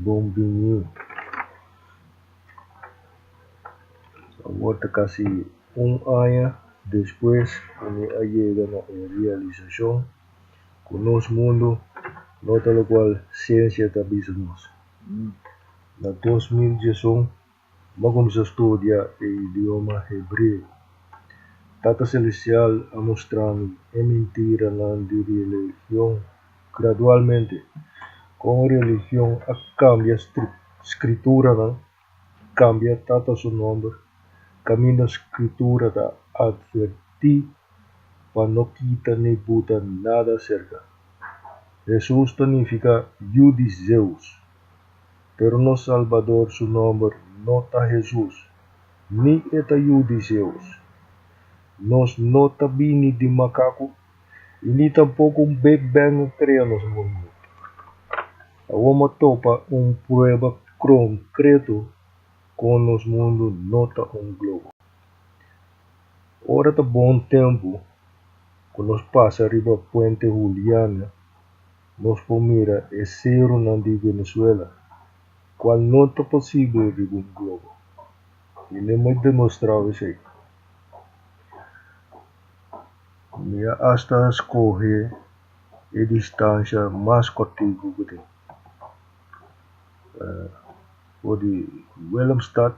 Bon bini. Awor ta kasi un aña despues ku mi a yega na e realisashon ku nos mundu no ta lokual siensia ta bisa nos. Na dos mil dieson Bo kuminsá studia e idioma hebreo. Tata Selestial a mustra mi e mintiranan di religion gradualmente, kon religion a kambia Skrituranan, kambia Tata su nòmber, kaminda Skritura ta atvertí pa no kita ni buta nada aserka. Hesus ta nifiká Yu di Zeus. Pero nos Salbador su nomber no ta Hesus, ni e ta Yu di Zeus. Nos no ta bini di makaku i ni tampoko un Big Bang a krea nos mundu. Awor m'a topa un prueba konkreto kon nos mundu no ta un globo. Ora ta bon tempu ku nos pasa riba Puente Juliana. nos por mira e seronan di Venezuela, cual no ta posible riba un globo, y mi a demostrao esey. Mi a hasta scoge e distancia mas cortico cu tin. For di Willemstad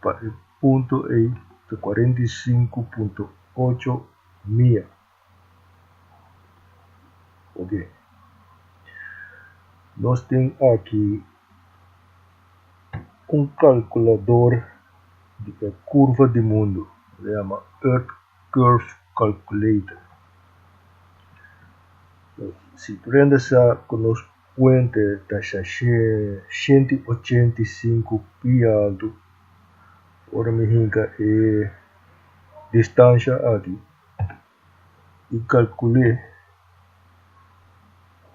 pa e punto ey ta cuarenta y sinku punto ocho mia. Ok. Nos tin aki un kalkulador di e kurva di mundu. E ta yama Earth Curve Calculator. Si prende sa ku nos puente ta shashá shenti i ochenta i sinku pia altu, ora mi hinka e distansha aki, i kalkul'é.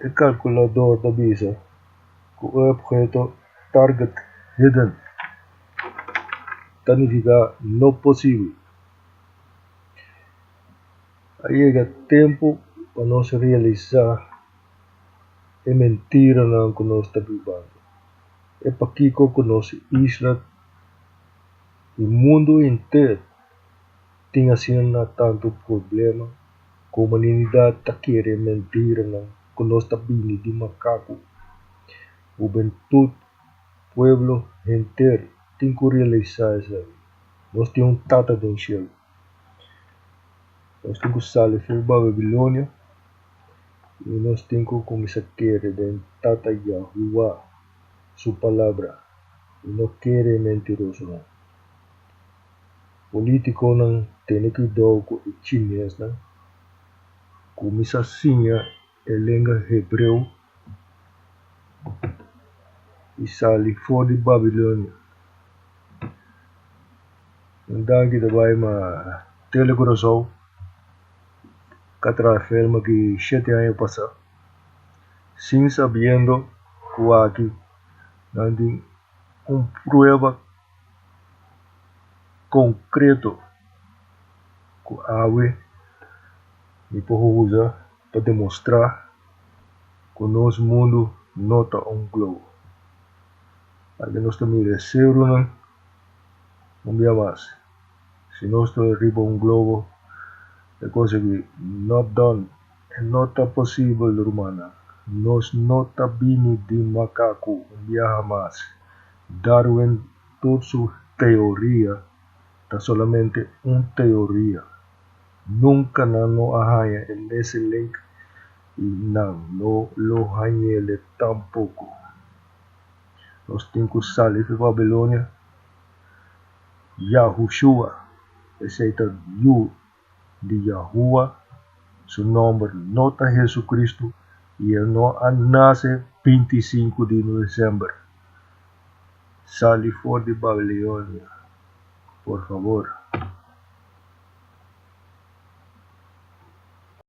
E kalkulador ta bisa ku e opheto target hidden ta nifiká no posibel. A yega tempu pa nos realisá e mentiranan ku nos ta bibando. E pakiko ku nos isla i mundu henter. tin asina na tantu problema ku humanidat ta kere e mentiranan ku nos ta bini di makaku. Hubentut, pueblo henter tin ku realisá esei. Nos tin un Tata den Shel. Nos tin ku sali for Babilonia i nos tin ku kuminsá kere den Tata Yahua Su Palabra i no kere e mentirosonan. Politiconan tene cuidao cu e Chinesnan cu mi sa siña e lenga Hebreo y sali for di Babilonia. Un danki ta bay ma Tele Curacao ka traha Felma ki shete aña pasa sin sabiendo cu aki nan tin un prueba. konkreto ku awe mi por usa pa demostrá ku nos mundu no ta un globo? Pasobra nos ta mira e serunan un bia mas. Si nos ta riba un globo, e kos aki no done, e no ta posibel rumannan. Nos no ta bini di makaku un biaha mas. Darwin tur su teoria ta solamente un teoria. Nunca nan lo a haña e mese link y nan no lo hañele tampoco. Nos tin cu sali di Babilonia, Yahushua, esey ta Yu. di Yahua, su nomber no ta Jesucristo y e no a nace binti sinku di November. Sali for di Babilonia, por favor.